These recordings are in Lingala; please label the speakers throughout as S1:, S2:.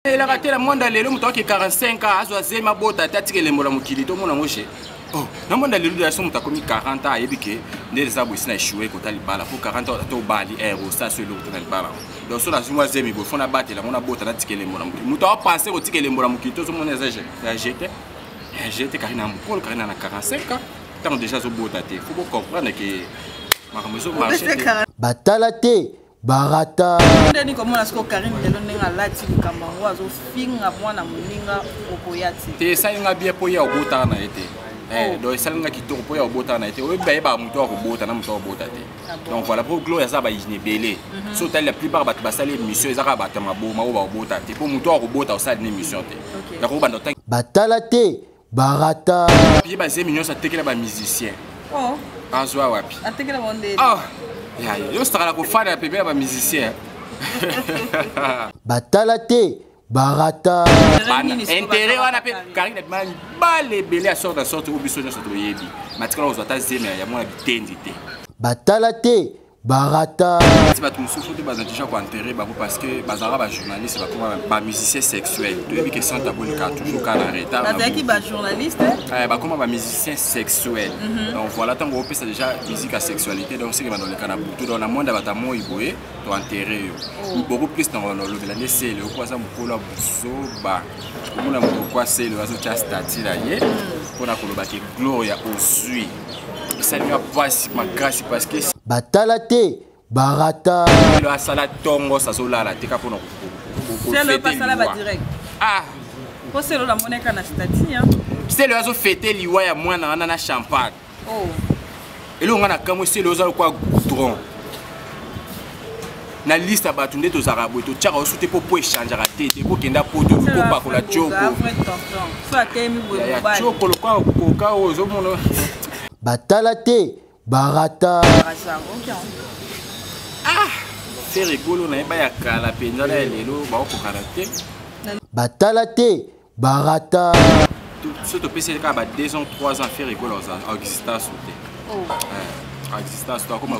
S1: elaka te na mwanda lelo moto ake 45 a azwa zema bota te atika elembo na mokili tomona yango je oh, na mwanda lelo de yaso moto akomi 40 a ayebi ke nde eza boye sina echoue kota libala po 40 ata obali er eh, osa so eloko te na libala yango donc so nazwi mwa zemi boye fo nabatela yango nabota natika elembo na mokili moto aopense kotika elembo na mokili tozomona eza jete jete karina mokolo karina na 45 a ntango deja azobota te fo bocomprendre ke makambo ezomarche batala te
S2: barata ndeni komona
S3: siko karine lelo ndenge alati likambo yango azofinga mwana moninga okoya te te esali nga bie
S1: mpo ye obotaka na ye te eh, oh. donc esali nga kitoko mpo ye obotaka na ye te oyebi bayebaka moto ya kobota na moto ya kobota te ah donc voilà mpo gloria aza bayini ebele mhm. so otali la plupart bato basali émission eza kaka bato ya maboma oyo bakobota te mpo moto ya kobota osali na émission te nakobanda batala te
S2: barata ye bazemi
S1: nyonso atekela bamusicien oh.
S3: azwa wapi
S1: atekela bondeli oh.
S3: ya
S1: yo osaka na kofanda ya pembe ya bamusicien
S2: batala te barata intere
S1: wana mpe karine abimala mibale ebele ya sorte ya sorte oyo biso nyonso toyebi matikala kozwa ata zemi ya mwana bitendi te batala te
S2: barata ti bato mosusu
S1: te baza déjà koenterre bango parce que bazalaka bajournaliste bakoma bamusicien sexuel toyebi ke santa bonika toujours ka na retardbazalaki bajournaliste
S3: eh, bakoma bamusicien
S1: sexuel mhm. donc voilà ntango opesa déjà musique ya sexualité donc seke bandoleka na butu donc na mwanda bato ya moi boye toenterre yo oh. beaucoup plus na olobela nde sele oko aza mokolo ya buzoba omona mokoko ya sele azotya stati na ye mhm. mpo na koloba ke gloria ozwi batala te
S2: barata asala
S1: tongo sazolala te kaka mpona
S3: selo azofete
S1: liwa ya mwana wana na champagne oh.
S3: elonga
S1: na kamwe selo oza lokwa goudron na liste ya bato nde tozalaka boye totyaka osu te mpo po echangeaka te te kokenda poto kopakola cokoyacoko
S3: lokola koka
S1: oyo ozomona batala
S2: te barata
S1: ah, fere golo na ye baya kala mpenza na ya lelo bakokokana te batala
S2: te barata
S1: so topesi kaka ba 2 ans 3 ans fere golo existence te oh. eh, existence te akoma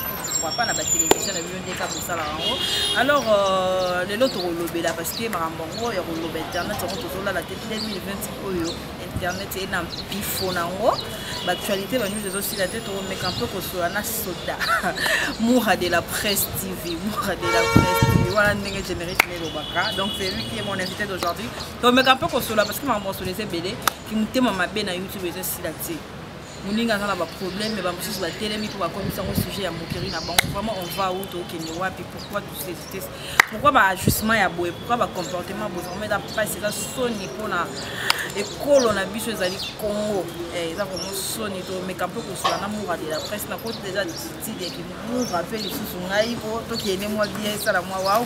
S3: pourquoi pas na ba télévision na bino nde kaka kosala yango alors euh, lelo tokolobela parce que makambo yango ya koloba internet yango tozolala te 2020 oyo internet eye na mpifo na yango baactualité banyuzi ezosila te tokomeka mpe kosola na soda mura de la presse tv mura de la presse tv wana ndenge générique nelobaka donc c'est lui qui est mon invité d'aujourd'hui tokomeka mpe kosola parce que makambo kosola eza ebele kimotema mabe na youtube ezosila te moninga aza na baproblème me bamosusu batelemi mpo bakomisa yango sujet ya moquerie na bango vraiment on va ou tokende wapi pourquoi tous ces vitesse pourquoi baajustement ya boye pourquoi bacomportement ya boye vraiment eza mpasi eza soni mpona ekolo na biso ezali congo eh, eza vraiment soni tomeka mpe kosula na mura de la presse nakoti deja titidi yaki mura mpe lisusu ngai mpo tokende mwa bie esala mwa wao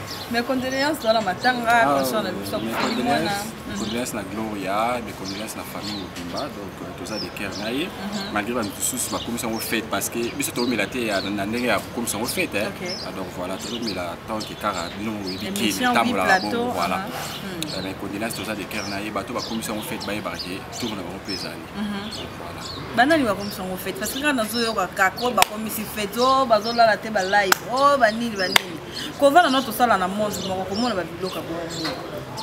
S3: Mes condoléances dans la matanga, ah, concernant la mission Mes condoléances, mhm.
S1: condoléances na Gloria, mes condoléances na famille mobimba, donc euh, toza de cœur na ye. Mhm. Malgré ba misusu ba komisa ngo fête parce que biso to mela te na ndenge ya komisa ngo fête hein. Ah, donc voilà, to mela tant que kara bino yebi ki tambo la bon voilà. Uh-huh. Euh, mes condoléances toza de cœur na ye, bato ba komisa ngo fête ba ye ba ke tour na bango pezani. Mhm. Voilà. Banani ba komisa
S3: ngo fête parce que na zo yo ka ko ba komisi fête, oh bazo lala te ba live, oh ba nini ba nini. kovanda no tosala na monde moko komona babiloka bongo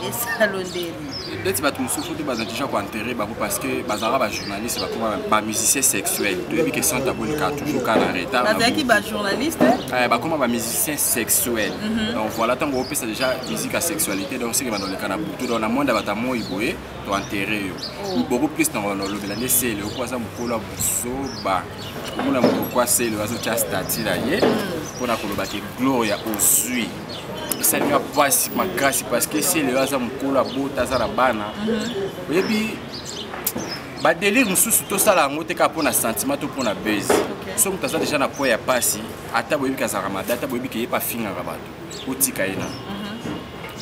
S3: esalo ndeni ndeti bato
S1: mosusu te baza déjà koenterre bango parce que bazalaka bajournaliste bakoma bamusicien sexuel toyebi ke santa bolika toujours ka na retard bazalaki
S3: bajournaliste eh, bakoma
S1: bamusicien sexuel mhm. donc voilà ntango opesa déjà musique ya sexualité donc seke bandoleka na butu donc na monde ya bato ya moi boye toenterre yo oh. beaucoup plus na olobela nde sele oko aza mokolo ya buzoba komona moto kwaselo azotya stati na ye mpo na koloba ke gloria ozwi esali nga mpasi makasi parceke selelo aza mokolo abota aza na bana mhm. oyebi badelire mosusu tosala yango te kaka mpo na sentiment to mpo na base so moto aza deja na po ya mpasi ata boyebi kazalaka mabe ata boyebi keye mpe afingaka bato otika ye na mhm.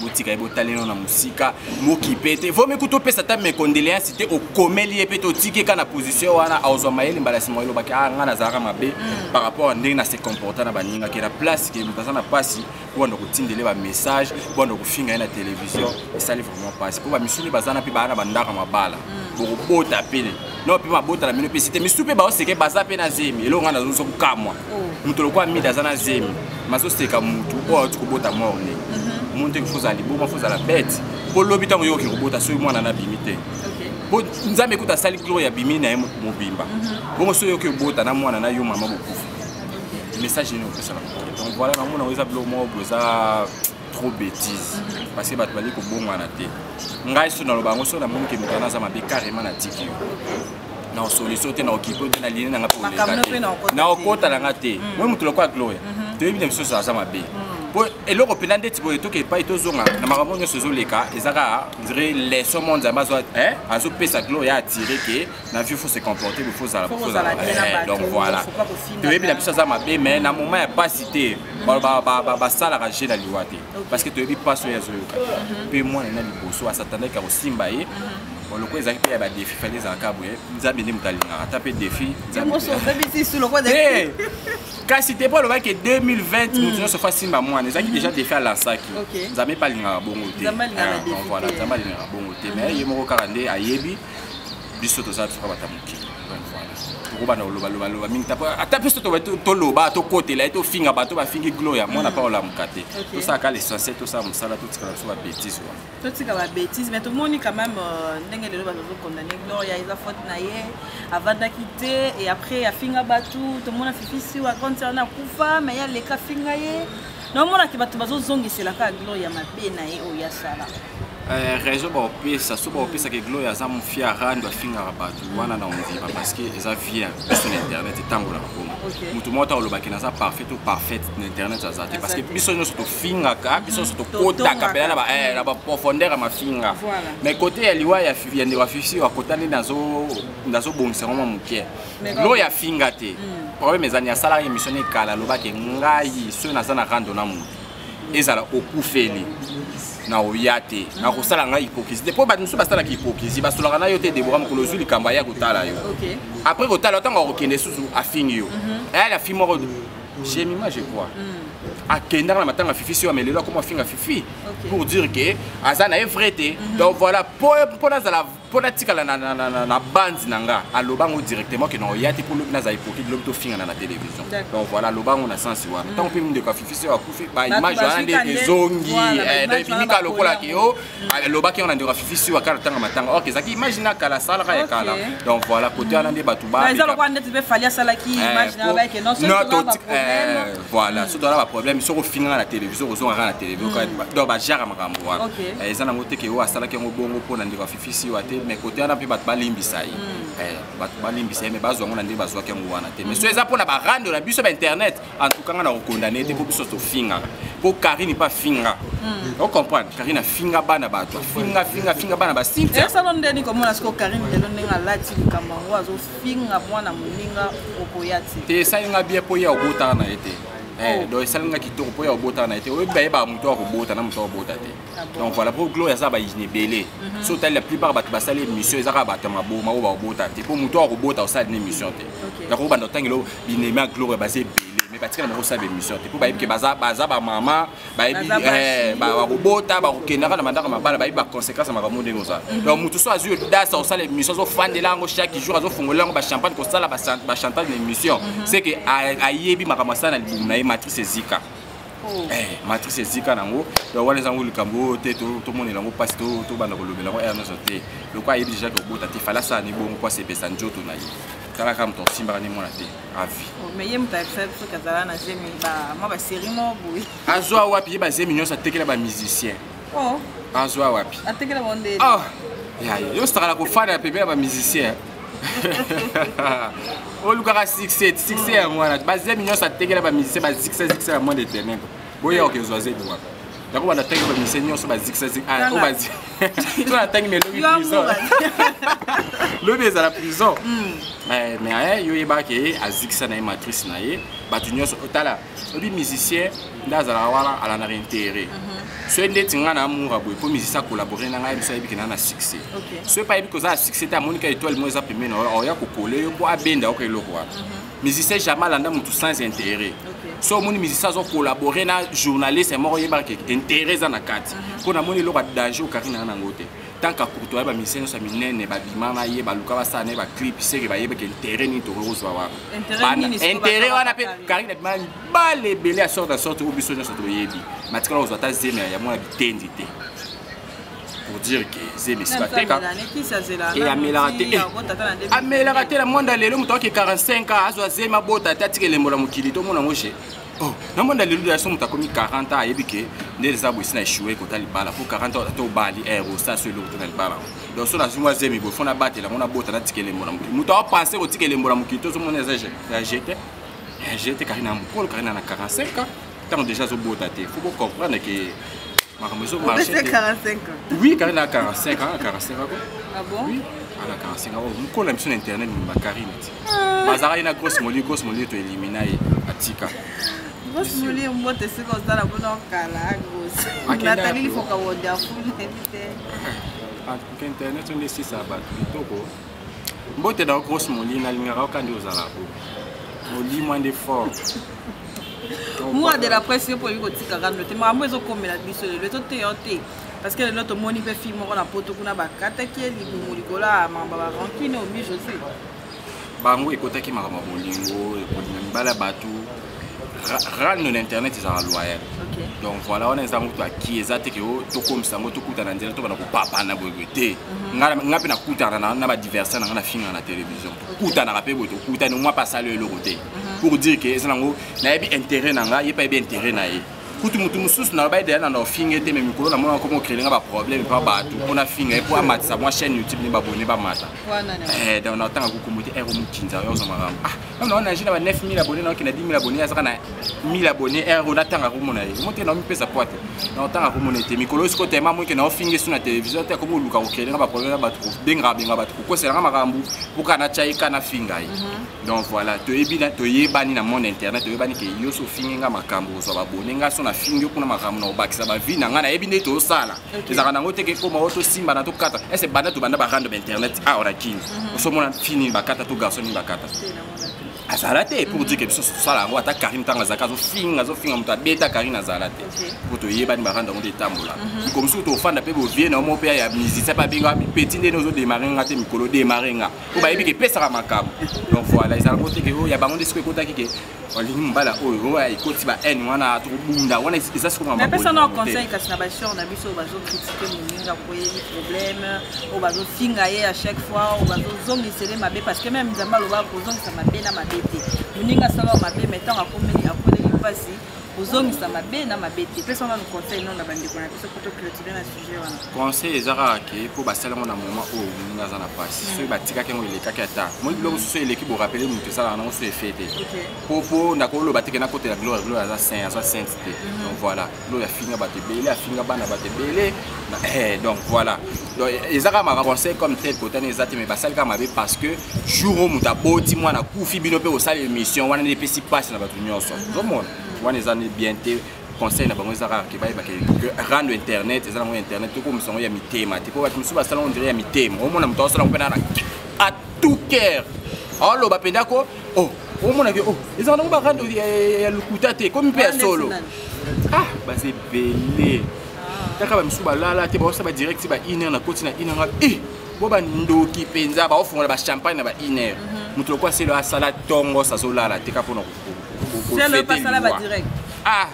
S1: botika ye botalelo na mosika mokipe te vomi kutu opesa ata mecondoleance te okomeli ye mpe te otiki eka na position wana aozwa mayele mbala nsima elobaki a ngai nazalaka mabe mm. par rapport a ndenge na se comporta na baninga ke na place ke moto aza na mpasi mpo banda kotindele bamessage mpo banda kofinga ye na télévision esali vraiment mpasi mpo bamisuni bazana mpe baa na bandaka mabala mm. bokobota pele no mpe mabota na bino mpe site misu mpe baoseke baza mpe na zemi eloko ngai nazozo kokamwa moto lokola mida aza na zemi mazoseka motu oyo auti kobota morne moni mhm. te fo ozala liboma fo ozala bete mpo lobi ntango yo okoki kobota soki mwana na abimi te mpo nzambe kuta asali gloria abimi na ye mobimba mhm. bongo soki oyoki obota na mwana na yo mama bokufa message nini opesaka donc voilà namona oyo eza biloko moko boza trop bêtise parce que bato bali kobongwana te ngai so naloba yango soki namoni ke moto wana aza mabe carrément natiki yo na osoliso te na okipe te na line na ngai mpe na okota na ngai te moi mm. moto lokola gloria mm-hmm. toyebi na misusu aza mabe mm. po eloko mpenza ndeti boye toke epai tozonga na makambo nyonso ezoleka eza kaka ndire leso mo nzambe azopesa gloria atire ke na vie faut se comporter mais faut zala faut zala eh, donc voilà toyebi na biso aza mabe mais na moment ya pasi te basalaka je na liwa te parce que toyebi pasi oyo azoyoka mpe mwana na liboso asatandaki ya kosimba ye lokola ezalaki mpe ya badefi fali ezalaka boye nzambe nde moto alingaka ata mpe defi kasi te mpo alobaki 2020 moto hmm. nyonso fa simba mwana ezalaki déjà defi alansaki nzambe mpe alingaka bongo te ah, nzambe alingaka bongo te mais ye moko kaka nde ayebi biso toza biso kaka bato ya mokili donc voilà tokobanda kolobaloba loba mingi ata biso toloba tokotela ye tofinga bato bafingi glo ya mwana mpa olamuka te tosalaka l'essentiel tosala mosala totikala biso babétise wana totika
S3: babétise mais tomoni quand même euh, ndenge lelo bato tokondane gloria eza faute na ye avandaki te et après afinga bato tomona fifisi wa grande sœur na akufa mais ye aleka afinga ye naomonaki bato bazozongisela kaka gloria mabe na ye oyo asala eh, raison
S1: baopesa so baopesaka gloria aza mofia rando afingaka bato wana na ondima parce que eza vie biso na internet etambolaka kuna moto moko ta olobaki naza parfait to parfait na internet aza te parce que biso nyonso tofingaka biso nyonso mm, tokotaka mpena na eh, baprofondeur ya mafinga mais kote ya liwa ya ndeko ya fifsi akotani nazobongisa yango mwa moke loya afinga te hmm. problème ezali asalaka émission ne kala alobaki ngai soki naza na rando na moto ezala okufeli na oya te hmm. nakosala ngai hypocrisie te mpo bato mosusu basalaka hypocrisie basolaka na yo te debora mokolo ozwi likambo aya kotala yo après kotala ntango akokende susu afingi yo mhm. ayali afingi moko jemima je crois hmm. akendaka na matanga fifi si amelelo akoma afinga fifi pour dire que aza na ye vrai te mhm. donc voilà mpo nazala mpo natikala na, na, na, na, na bandi na nga aloba yango directement ke nao ya te mpo lobi nazala hypocrite lobi tofingana na télévision donc voilà aloba yango na sensi wana ntango mpe mindeko ya fifi soki akufi baimage wana nde ezongi ebimika lokola ke yo alobaki yango na ndeko ya fifi soki akala tanga matanga ok ezalaki image na kala asalaka ya kala donc voilà kote wana nde bato ba
S3: voilà soki toza
S1: baproblème soki ofinga nga na télévision kozonga nga na télévision mm. donc bajara makambo wana eh, eza nango te ke oyo asalaki yango bongo mpo na ndeko afifisi yo te mais kote wana mpe bato balimbisa ye mm. eh, bato balimbisa ye mais bazwa yango na ndenge bazwaki yango wana te mais soki eza mpo na barando na biso bainternet en tout cas nga na kokondane te mpo biso tofingaka mpo karine mpe afinga mm. ocomprendre karine afinga bana bato afinga finga finga bana basintiasalo ndeni komona
S3: siko karine lelo ndenge alati likambo yango azofinga finga mwana moninga
S1: okoya te te esali
S3: nga
S1: bien mpo ye
S3: obotaka
S1: na ye
S3: te
S1: eh, oh. donc esali nga kitoko mpo ye obotaka na ye te oyebi bayebaka moto ya kobota na moto ya kobota te ah donc voilà mpo gloria aza bayini ebele mhm. so otali la plupart bato basali émission eza kaka bato ya maboma oyo bakobota te mpo moto ya kobota osali na émission te nakoki banda otangelo binemi ya gloria baza ebele mais batikala moko osala baémission te mpo bayebi ke baza bamama bayebi eh, bakobota bakokendaka na bandako mabala bayebi baconséquence ya makambo ndenge ozala mhm. donc motu so azwi odasi akosala émission azofandela yango chaque jour azofongolela yango bachampagne kosala bachantage na émission mhm. c'est que ayebi makambo asala na libumu na ye matrice ezika oh. eh, matrice ezika nango donc wana ezango likambo oyo te tomonela yango mpasi tobanda kolobela yango r nyonso te lokola ayebi déjà kobota te fala asala ni bongo mpo asepesa nzoto na ye tala kaka moto osimbaka nde mwana te avi oh, mais ye moto ayebisa
S3: biso kazala na zemi mwa baserie moko boye azwa wapi ye bazemi
S1: nyonso atekela bamusicien oh. azwa wapi atekela bango
S3: nde oh. yaye
S1: yo osakala kofanda pembe ya bamusicien olukaka succès succès ya mwana bazemi nyonso atekela bamusicien basuccès succès ya mwana eternel boyaka okezwa zemi wapi yango bana tangi bamise nyonso bazikisaziki ah, to na tangi melobi prison lobi ezala prison hmm. eh, mais yo oyebaka ke azikisa na ye matrice na ye bato nyonso otala oyebi musicien nde azalaka wana alandaka intere mhm. soki ndeti ngai na amoura boye mpo musicien akolabore na ngai biso ayebiki na na succès soki mpe ayebi koza na succès te amoni ka etoile moko eza pembeni oya kokola yo mpo abenda oko eloko wana mhm. musicien jamais alanda mutu sans intérêt so omoni musicien azo collabore na journaliste moko oyebaka ke intérêt eza na kati mpo mhm. namoni eloko ya danger okari nanga nango te tant ka courto ya bamisien nyonso ya minene babima na ye baluka basala na ye baclip seke bayebaka intérêt nini tokoki kozwa wana intérêt wana mpe kari na bima mibale ebele ya sorte ya sorte oyo biso nyonso toyebi matikala kozwa ata zeme ya mwana bitendi te pour dire que zemi esi bateka e amelaka te eh, amelaka te na mwanda lelo moto ake 45 ans azwa zemi abota te atika elembo na mokili tomona yango je oh, na mwanda lelo ya so moto akomi 40 ans ayebi ke nde eza boyesi na echoue kota libala po 40 ans ata obali eh, osa so eloko te na libala donc so nazwi mwa zemi boye fo nabatela yango nabota natika elembo na mokili moto aopense kotika elembo na mokili tozomona eza jete jete karina mokolo karina na 45 ans ntango deja azobota te fo bocomprendre ke makambo ezomarche
S3: oui karine a 45 ans 45 ako oui
S1: ana 45 ans mokolo na biso na internet mimba karine ti bazalaki na grosse moli grosse moli to elimina ye atika grosse
S3: moli mbote soki ozala kuna okala grosse natali lifoka wodiafulete
S1: internet onde esisa bato kitoko mbote da grosse moli nalingaka yoka nde ozala ko molimwa nde fort
S3: moi de la presse yo mpo oyebi kotika kando te makambo ezokomela biso lelo ezoteya yo te parce que lelo tomoni mpe fille moko na poto kuna bakataki ye libumu likolo ya makambo ya barankine omi josue bango
S1: ekotaki makambo ya bolingo ekolinga mibala bato rano na internet ezalaka loyal donc voilà wana eza yango toaki eza te ke oh, tokomisa yango tokutana nzela tobana kopapana boyeboye te mhm. nga mpe nakutana na badiversaire na nga nafingaka na télévision tokutanaka mpe boye tokutani omwa mpe asali eloko te mhm. pour dire ke eza nango nayebi intérêt na nga ye mpe ayebi intérêt na ye kutu motu mosusu na lobai deya na na ofinge te me mikolo namona nakoma okrele nga baproblème mpa bato mpo nafinga ye mpo amatisa mwa chaîne youtube ne babone bamata eh, donc natanga kokombo te ero eh, mokinza yo ozwa makambo ah, non non naje na ba 9000 abonné naoki na 10000 abonné azaka na 1000 abonné heure oyo natanga komona ye omo te naomipesa poa te naotanga komona ye te mikolo osi kotema moike naofingi su na televizio te akomi oluka kokrele nga baproblème ya bato kobengaka benga bato kokosela nga makambo mpo kaka natya ye ka nafinga ye mhm. donc voilà toyebi toyebani na monde internet toyebani ke yo so ofingi nga makambo ozwa babone nga so nafingi yo kuna makambo na kobakisa bavie na nga nayebi nde tosala ezalaka nango te kekoma oyo tosimbana tokata ese banda tobanda barando ba internet awa ah, na kini mhm. osomona fi nini bakata to garso nini bakata azala te pour dire ke biso tosala yango ata karine ntango azalaka azofinga azofinga moto abeta karine azala te po toyebani barando yango nde etambola mhm. miko mosusu tofanda mpe bovie na omo mpe ya musicien mpe abenga mipeti nde nozodemare nga te mikolo demare nga po bayebi ke epesaka makambo donc voilà ezala ngo te ke oyo oh, ya bango nde soki ekotaki ke olingi mobala oyo oyo ekoti ba haine wana tokobunda wana eza sikoapesa na conseil kasi
S3: na baseur na biso oyo bazokritike moninga koyebi problème oyo bazofinga ye à chaque fois oyo bazozongisele mabe parce que meme nzambe aloba kozongisa mabe na mabe te moninga asalao mabe mai ntango akomeli akoleli mpasi kozongisa mabe na mabe te pesa wana conseil nonga bandeko na biso po toclotire na conseil eza kaka ke
S1: mpo basali yango na moment oyo moninga aza na mpasi soki batikaki yango elekaki ata moi biloko mosusu eleki borapele moto esalaka nango so efe te mpo mpo nakoloba teke nakotela gloire gloire aza saint aza sainte te mhm. donc voilà gloire afinga bato ebele afinga bana bato ebele eh, donc voilà donc eza kaka maka conseil comme tel kotani eza te mais basali kaka mabe parce que jour oyo moto aboti mwana kufi bino mpe kosala émission wana nde epesi mpasi na bato nyonso mhm. ozomona wana eza nde bien te conseil na bango eza kaka ke bayeba ke rando internet eza nango internet tokomisa yango ya mitema te mpo bato mosusu basala ondire ya mitema omona moto aosala yango mpe nana a tout cœur aoloba mpenza ko o oh, omona ke o oh, ezaka nango barando ya lokuta te komi mpe ya solo ah baza ebele kaka bamisusu balala te baosa badirect ba une heure na koti na une heure e eh, bo bandoki mpenza baofongola bachampagne na ba une heure moto mhm. lokola selo asala tongo sazolala te kaka mpona selo pasala ba direct
S3: ah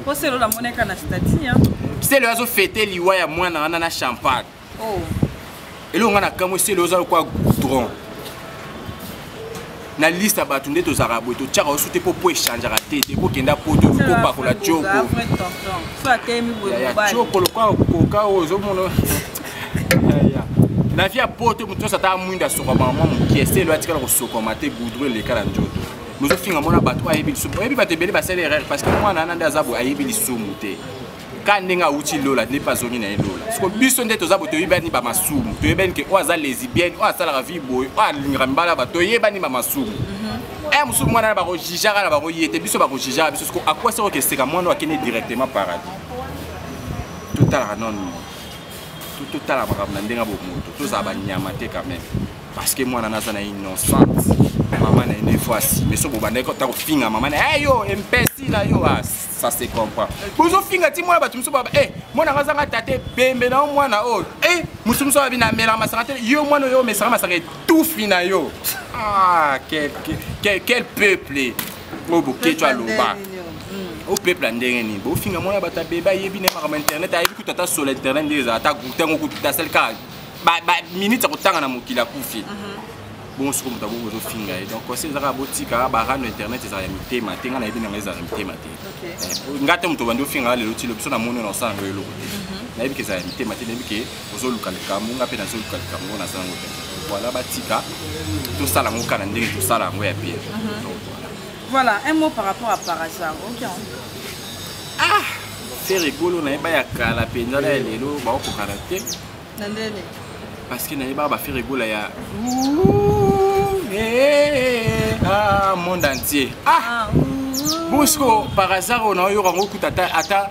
S3: po selo la moneka na stati hein selo azo
S1: fêter liwa ya mwana wana na champagne oh eloko nga na kamwe selo oza lokwa goudron na liste ya bato nde tozalaka boye totyaka osu te mpo mpo echangeaka te te bokenda poto kopakola coko
S3: ya coko lokola
S1: koka oyo ozomona na vie ya poto moto nyonso ata mwinda asokama mwa mokie se elo atikala kosokama te goudro eleka na nzoto bozofinga mwana bato ayebi lisumu oyebi bato ebele basali erreur parce que mwana wana nde aza boye ayebi lisumu te ka ndenge awuti lola nde mpe azongi na ye lola siko biso nde toza boye toyebani bamasumu toyebani ke oyo aza lesibienne oyo asalaka vie boye oyo alingaka mibala ya bato toyebani bamasumu mhm. eh, mosusu mwana na bakojijaka na bango ye te biso bakojijaka biso siko akwasi okeseka mwana oyo akende directement paradis totalaka nonno totala makambo na ndenge ya bomoto tozala banyama te quand même parce que mwana naza na innocente mama na ye nde fois asime so bobandaki ata kofinga mama na ye yo empesi na yo ah, ça se comprend bozofinga ti mwana bato mosusu baba e eh, mwana nga azanga tata ebembe na yo mwana oyo oh, e eh, mosusu mosusu abi na melaka masanga te yo mwana oyo omesaka masanga etufi na yo ah quel, quel, quel peuple oyo boketsho aloba o peuple ya ndenge nini bofinga mwana bato abebe ayebi na ye makambo internet ayebi kutu ata solo internet nde ezala ata groupe yango kutu tasali kaka baminute ya kotanga na mokili akufi mhm. bongo soko moto akoki kozofinga ye donc conseil ezaka botika barano internet ezala ya mitema te ngai nayebi nanga ezala ya mitema te eh, ngai te moto obandi ofinga nga lelo ti lo biso na moni na osala ngo eloko te mhm. nayebi ke ezala ya mitema te nayebi ke ozoluka likambo nga mpe nazoluka likambo ngo naza yango te voilà batika tosala yango kaka na ndenge tosala yango ya bien mhm.
S3: voilà un mot par rapport à parasar ok ah
S1: fere ekolo nayeba ya kala mpenza na ya lelo baokokana te na ndene
S3: parce que nayebaka
S1: bafere egola ya ah, monde entier ah, ah bosiko par hasard oyo naoyoka ngo kuta ata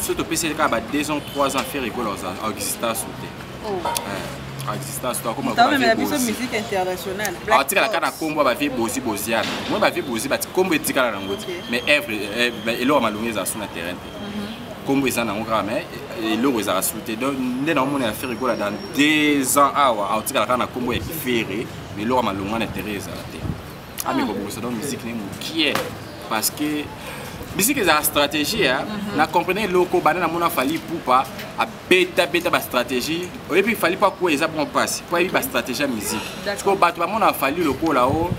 S1: soki topesi ye kaka ba 2 ans 3 ans fere ekola exista su te exista su akomaomemela biso musique
S3: internationale atikala kaka na nkombo
S1: ya bavie bozi boziana moi bavie bozi nkombo etikala nango te mais evre eh, eh, eloko malongi eza su na terrain te nkombo mhm. eza nango kaka mais eh, eloko ezalaka su te donc nde naomona ya fere ekola dans 2 ans awa aotikala kaka na nkombo ya fere mais eloko malongi wana terrain ezala te ami kobongisa donc musique ne mokie parce que musique ezala stratégie ya mhm. na comprene eloko banda namona fali pupa abetabeta bastratégie oyebi fali mpo akuwa eza bon mpasi mpo ayebi bastratégie ya musique sikoyo bato bamona fali lokola o oh,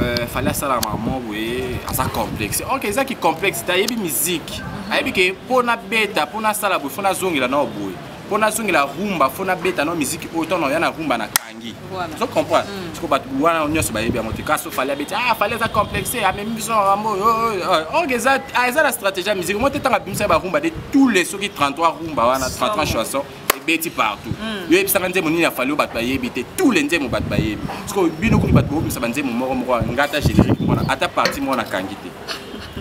S1: euh, fali asala mamo boye aza complexe ok eza ki complexe te ayebi musique mhm. ayebi ke mpo nabeta mpo nasala boye mpo nazongela nao boye mpo nazongela rumba mpo nabeta nao musique oyo ntango ya na rumba na tangi ozo comprendre siko bato wana nyonso bayebi yango te kasi ofali abeti ah fali aza complexe amemi biso na rambo orge eza na stratégie ya musique mo te ntango abimisa barumba de tous les soki 33 rumba wana 33 chanson ebeti partout hmm. yo yebisaka nzembo nini afali oyo bato bayebi te tous les nzembo bato bayebi siko bino kutu bato bobimisa banzembo moko moko wana nga ata générique mwana ata parti mwana kangi te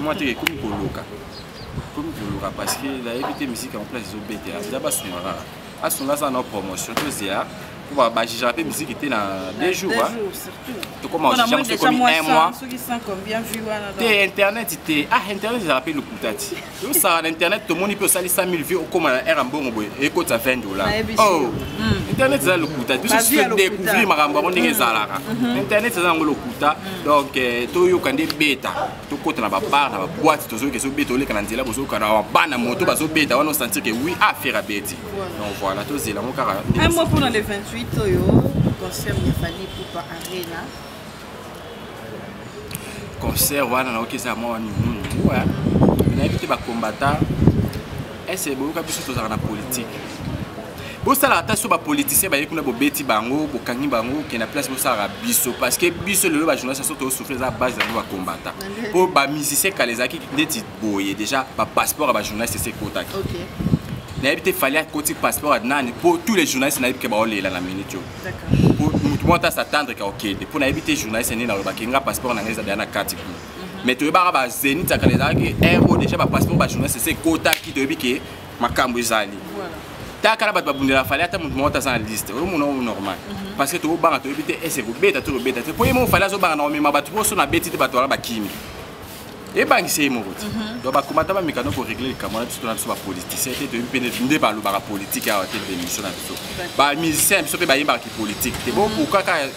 S1: mwa te ekomi koloka ekomi koloka parce que nayebi te misiki en place ezobetela eza basungaka asunga aza na promotion tozela po bajugera mpe miziki te na deux jours tokoma
S3: ojuge mosu
S1: ekomi un mois
S3: te internet te
S1: ah internet ezala mpe lokuta ti osala na internet tomoni mpe osali 100 000 vie okóma na aire ya mbongo boye ekota 20 dollar oh hmm. internet eza lokuta biso découvrir makambo yango ndenge ezalaka hmm. internet eza yango lokuta hmm. donc eh, toyoka nde beta tokota na babar na baboite tozoyoka ezobeta oleka na nzela bozoyoka na bana moto bazobeta wana osentir ke oui affaire abeti donc voilà tozela yango kaka un mot mpona le 28
S3: oyo concert ya fali pupa arena
S1: concert wana nayoki eza mwa nini nayebi te bakombata ese boyoka biso tozalaka na politike bosalaka ata so bapoliticien baye kuna bobeti bango bokangi bango okenda place bosalaka biso parce que biso lelo bajournaliste so tosouffle eza base na biso bakombata mpo bamusicien kala ezalaki neti boye déjà bapasseport ya bajournaliste esi ekotaki
S3: nayebi te
S1: fali akoti passeport ya nani mpo tous les journalistes nayebi ke baolela na minute oyo
S3: motu moko ata
S1: satandreka okende mpo nayebi te journaliste nini alobaki nga passeport na ngai eza deya na kati kuna mais toyebaka ba zenith ya kala ezalaki air oyo déjà bapasseport bajournaliste ese ekotaki toyebi ke makambo ezali taka na bato babundela fali ata moto moko taza na liste omona o normal mhm. parce que tokobanga toyebi te ese kobeta to kobeta te mpo ye moko fali azobanga na komema bato mposo na beti te bato wana bakimi ebangisa ye moko te mhm. donc bakomata bamekano koregle likambo wana biso tona biso bapoliticien te toyebi mpe nde balobaka politike awa te mpe émission na biso bamusicien biso mpe bayembaka kipolitike te bo mhm. pourkaka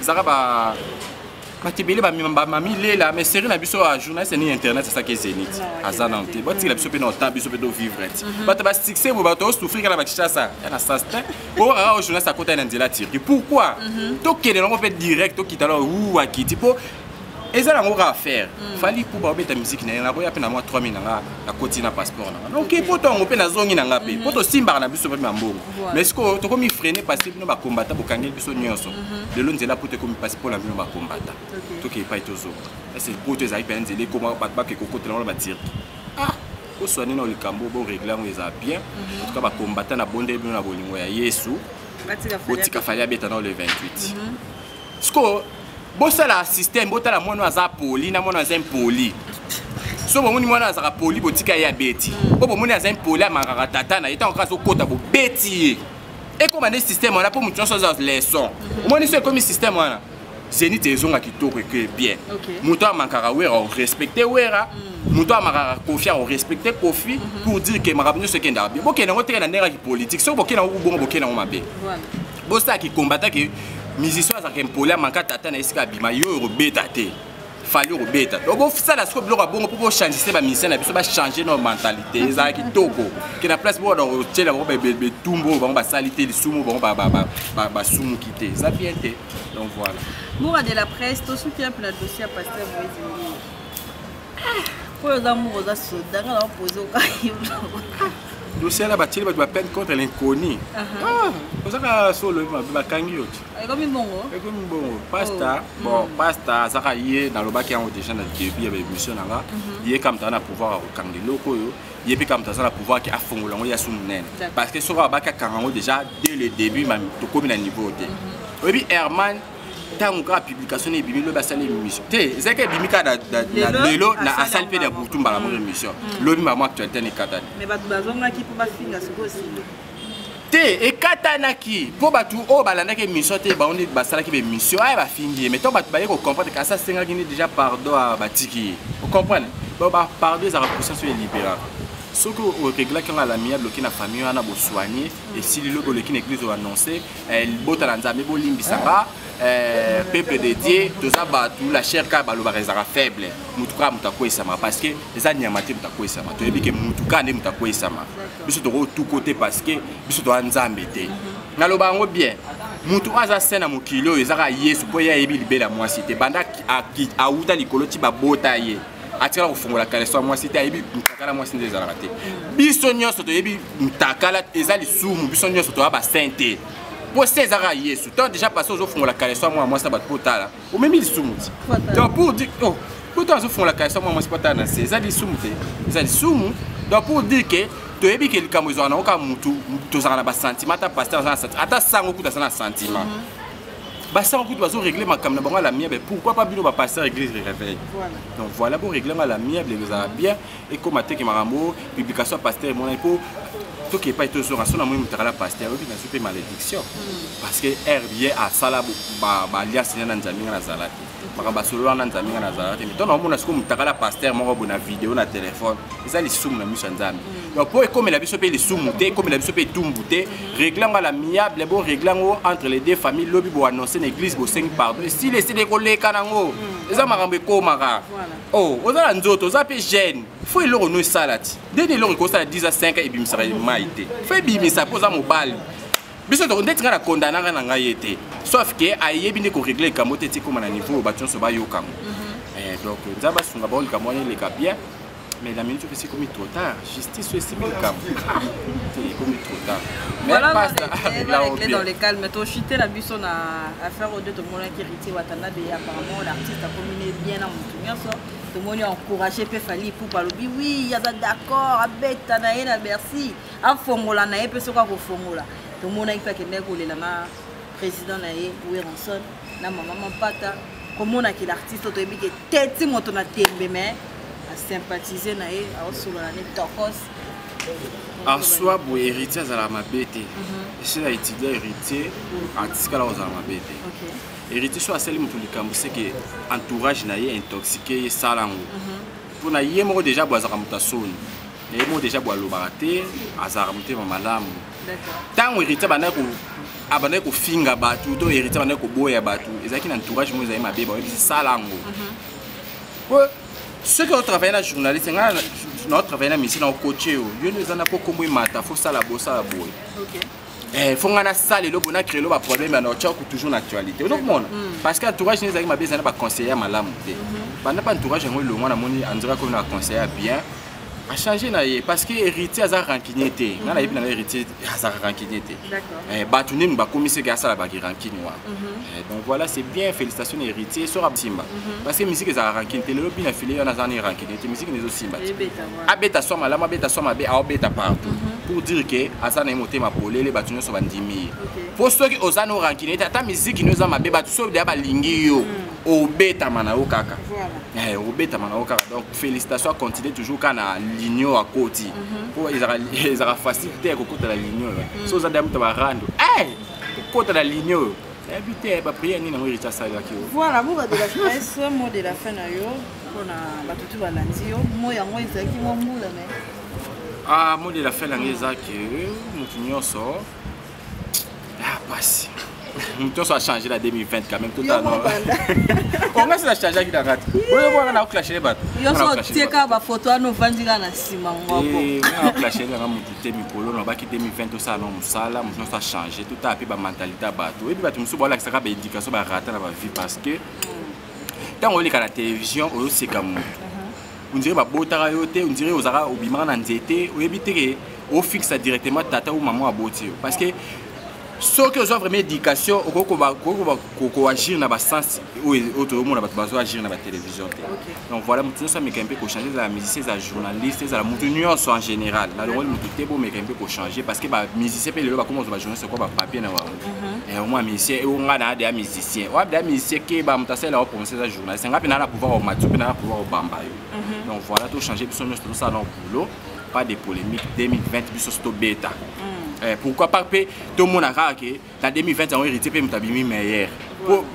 S1: ezalaka ba bato ebele bamami lela mais série na biso ya journaliste nini internet asaki zénith aza nano te botikela biso mpe na ota biso mpe tovivre ti mhm. bato basuccès boye bato osouffrir kaka na bakishasa ya na sas te okaka o journaliste akotaki na nzela turki pourquoi mhm. tokende nango mpe direct tokita lao u akiti mpo eza nango kaka affaire mm. fali mpo baobeta miziki na ye naboya mpe na mwa 3000 na nga nakoti na passeport na nga donc mpo tongo mpe nazongi na nga mpe mpo mhm. tosimbaka na biso mpe mambongo mais sikoyo tokomi freine pasi bino bakombata bokangeli biso nyonso mhm. lelo nzela mpo tokomi pasi mpo na bino bakombata tokei epai tozonga ese poto ezalaki mpenza nzela ekoma bato bakei kokotela ngo na batirki ah! oswane na likambo boregle yango eza bien mhm. entuka bakombata na bondeli bino na bolingo ya yesu botika fali abeta nao le 28 sikoyo bosala système botala mwana oyo aza poli na mwana aza impoli so bomoni mwana azalaka poli botika ye abeti mpo mm. bomoni aza impoli amakaka tata na ye ntango kaka azokota bobeti ye ekoma nde système wana mpo moto nyonso aza leçon mm-hmm. omoni so ekomi système wana zenite ezonga kitoko eke bien moto amakaka wera orespecte wera mm. moto amakaka kofi orespecte kofi mm-hmm. pour dire ke makambo nyonso ekendaka bien bokende yango teke na ndenge ya kipolitike soki bokende yango kobongo bokende yango mabe bosala ki combattant ke musicien azalaka impoli amanka tata na esika abima yo okobeta te fali okobeta donc bosala sikoyo biloko ya bongo mpo bochangise bamisien na biso bachange na mentalité ezala kitoko ke na place bokona kotyela bango betumbu oyo bango basali te lisumu bango basumuki te eza bien te donc voilà mura de la presse
S3: tosuki yape na dossier ya pasteur moise mbii oyo oza mura oza soda nga na opose okayo
S1: dossier na batieli bato bapeine contre l'inconnu ah, ozaka solo olobi mabe bakangi yo ti
S3: ekomi bongo pasta
S1: oh. bon mm. pasta azaka ye nalobaki yango déjà na début ya baémission na nga mhm. ye kamta na pouvoir ya kokanga eloko oyo ye mpe kamta aza na pouvoir ke afongola yango ya su monene parce que soki abaki akanga yango déjà dès le début tokomi na niveau te mhm. oyebi hermane ntango kaka publication na ebimi lobi asali émission te ezalaki ebimi kaka na lelo na asali mpe na butu mbala moko émission mm. lobi mbala mwa actualité na ekatani
S3: te
S1: ekatanaki mpo bato oyo balandaki émission te bango nde basalaki baémission aya bafingi ye mai ntango bato baye kocomprendre kasi asengaki nde déjà pardon a batiki ye ocomprendre donc bapardon ezalaka conscience oyo elibéraka soki oreglaki yango alamiable oki na famille wana bosoigne esili lobi oleki na église oannonce eh, libota na nzambe bolimbisa nga eh, peuple de dieu toza bato la chair kaka balobaka ezalaka faible motu kaka moto akweyisama parce que eza nyama te moto akweyisama toyebi ke motu kaka nde moto akweyisama biso tokotuko te parce que biso toza nzambe te naloba yango bien motu oyo aza se na mokili oyo ezaka yesu mpo ye ayebi libela mwasi te banda awuta likolo ti babota ye atikala kofungola kaleso ya mwasi te ayebi mutakala mwasi nde ezalaka te biso nyonso toyebi mutakala eza lisumu biso nyonso toya basin te mpo se ezaka yesu to déjà passé ozofungola kaleso ya mwana mwasi na bato mpo otala omemi lisumu ti donc pour dire oh, mpo to azofungola kaleso ya mwana mwasi mpo otala na se eza lisumu te eza lisumu donc pour dire que toyebi ke likambo ezwaka nango kaka motu tozalaka na basentiment ata paster aza na sentiment ata sango kuta aza na sentiment mm -hmm. basala kutu bazo régler makambo na bango à l'amiable pourquoi pas bino bapasteur église de réveil donc voilà bo régler yango à l'amiable ekozala bien ekóma teke makambo publication ya pasteur emonani mpo toke epai tozonga so na moi motakala pasteur oyoki nazwi mpe malédiction parce que heure ye asala baliasi na na nzambe nga nazala te makambo asolo wana nzambe ngai nazalaka te mito naomona sikoyo motakala ya paster moko boye na video na telefone eza lisumu na miso ya nzambe mm. donc mpo ekomela biso mpe lisumu te ekomela biso mpe etumbu te mm. regle yango ala miable bo regle yango entre les deux famille lobi boannonce na église bosengi pardon esili esili ekoleka nango mm. eza makambo ekomaka o oh, oza na nzoto oza mpe jeune fo eloko no esala ti ndeni eloko ekosala 10 a 5 ebimisaka mai te fo ebimisa mpo oza mobali biso toko ndeti ngai na kondanaka na ngai ye te sauf ke ayebi nde koregle likambo te etikoma na niveau oyo bato nyonso bayokango mhm. eh, donc nzambe asunga bango likambo wana eleka bien mais la minute epesi ekomi trop tard justice oyo esimbi likambo te ekomi trop tard
S3: toshite na biso na affaire oyo nde tomonaki héritier watanda beye apparemment l'artiste akomi ne bien na motu nyonso tomoni encourage mpe fali ipupa alobi wi aza d'accord abeta na ye na bercy afongola na ye mpe soki akofongola tomonaki mpe akendaki kolela na président na ye weronson na mama mampata komona ke l'artiste oyo toyebi ke teti moto na tembe mais asympathize na ye aosolola ne tokos
S1: aswa boye héritier azalaka mabe te mhm. esila étudia héritier atikala kozala mabe te héritier so asali moto likambo seke entourage na ye intoxique ye sala yango mhm. mpo na ye moko déjà boazaka moto ya soni naye mo deja bo alobaka te azalaka motema malamu ntango héritier abandaki ko abandaki kofinga bato to héritier abandaki koboya bato ezalaki na entourage moko ezali mabe baoyebisi sala yango po mhm. soki otravaille na journaliste ngai naotravaille na misi na okoce yo yo nde eza na po nkombo emata fo sala bosala boye Eh, fo ngai nasala eloko na créelo baproblème ya norchaku toujours na actualité ozokomona mm. parce que entourage nini ezalaki mabe ezali na baconseiller ya malamu te mm-hmm. banda pa entourage yango elongwa namoni andiraki oyo na conseiller ya bien achange na ye parce que héritier aza rancunier te nga nayebi na nga héritier azaka rancunier te eh, bato nini bakomiseke asala baki rancune wana mhm. eh, donc voilà c'est bien félicitation na héritier soki asimba mhm. parce que misiki ezalaka rancune te lelo bina file wana aza na rancune te misiki nezosimba te abeta swa malamu abeta swa mabe aobeta partout mm -hmm. pour dire ke aza na ye motema polele bato nyonso bandimi ye mpo okay. soki oza na orankine ete ata miziki nio eza mabe bato soki deya balingi yo mm. obetama na yo kaka voilà. hey, eh, obetama na yo kaka donc félicitation acontinue toujours kaka na ligno akoti mhm. mpo mm -hmm. ezalaka facile te kokota na ligno oyo mm. so oza deya moto barando hey, eh, kokota na ligno oyo nayebi te bapriere nini yango erita asalelaki yo voilà boba de la
S3: presse mot de la fin na yo mpona bato tu balandi yo moi yango
S1: ezalaki mwa mbula me ah, moi de la fin na ngai eza ke motu nyonso ya ah, pasi motu nyonso achange na 2020 quand même totanonga sina changeaki na kati oyomwana na oclashe bato yonso otieka
S3: bafoto wana ovandi kaka na nsima ngwakooclashe eh,
S1: nanga motu te mikolo nabaki 2020 tosala na mosala motu nyonso achange totala mpe bamentalité ya bato oyebi bato mosusu balakisaka baéducation barata na bavie parce que ntango oleka na televizio oyoseka motu uh-huh. ondire babotaka yo te ondire ozalaka obimaka na nzete oyebi teke ofixa directement tata ou mama aboti yo parce que soki ozwa vraiment éducation okoki koagir na basens oyo toyomona bato bazo agir na batélévision te donc voilà moto nyonso ameka mpe kochange ezala musicien ezala journaliste ezala moto nyonso en général nalongoli moto te bomeka mpe kochange parce que bamusicien mpe lelo bakoma kozwa bajournaliste oko bapapier na bango mhm. omwa eh, musicien ewo eh, ngai naa deya musicien oya deya musicien keba moto asalela o prononce eza journaliste ngai mpe naa na pouvoir omati mpe naa na pouvoir obamba yo mhm. donc voilà tochange biso nyonso tozosala na boulot pas de polémique 2020 biso so tobeta mm. eh, pourquoi pas mpe tomona kaka ke na 2020 yango héritier mpe moto abimi meilleur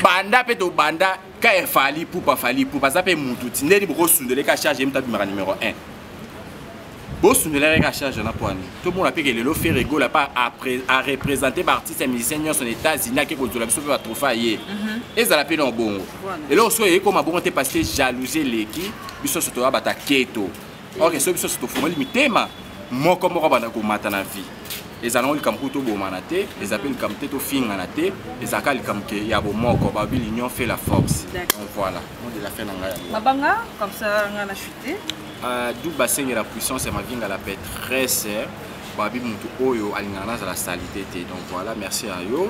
S1: banda mpe tobanda kaer fali pupa fali pupa aza mpe mutu ti ndeni bokosundola eka charge ye mutu abimaka numero 1 bosundola eka charge na poani tomona mpe ke lelo fere gola mpe arepresente baartiste ya musicien nyonso na états-unis ake kozwela biso mpe batrofe ya ye mhm. ezala mpe na obongo eloko soki eyekoma bongo te parce que jalousie eleki biso nyonso toya bata keto ok so biso tofungoli mitema moko moko banda komata na vie ezalaka likambo kutu tobomana te eza mpe likambo te tofingana te ezalaka likambo ke ya bomoko babi l'union fait la force donc voilà monde la fin na ngai yango mabanga comme
S3: ça ngai na chute euh, du
S1: basengela puissance ya mavinga la paix très babi motu oyo alingaka nazala salite te donc voilà merci ya yo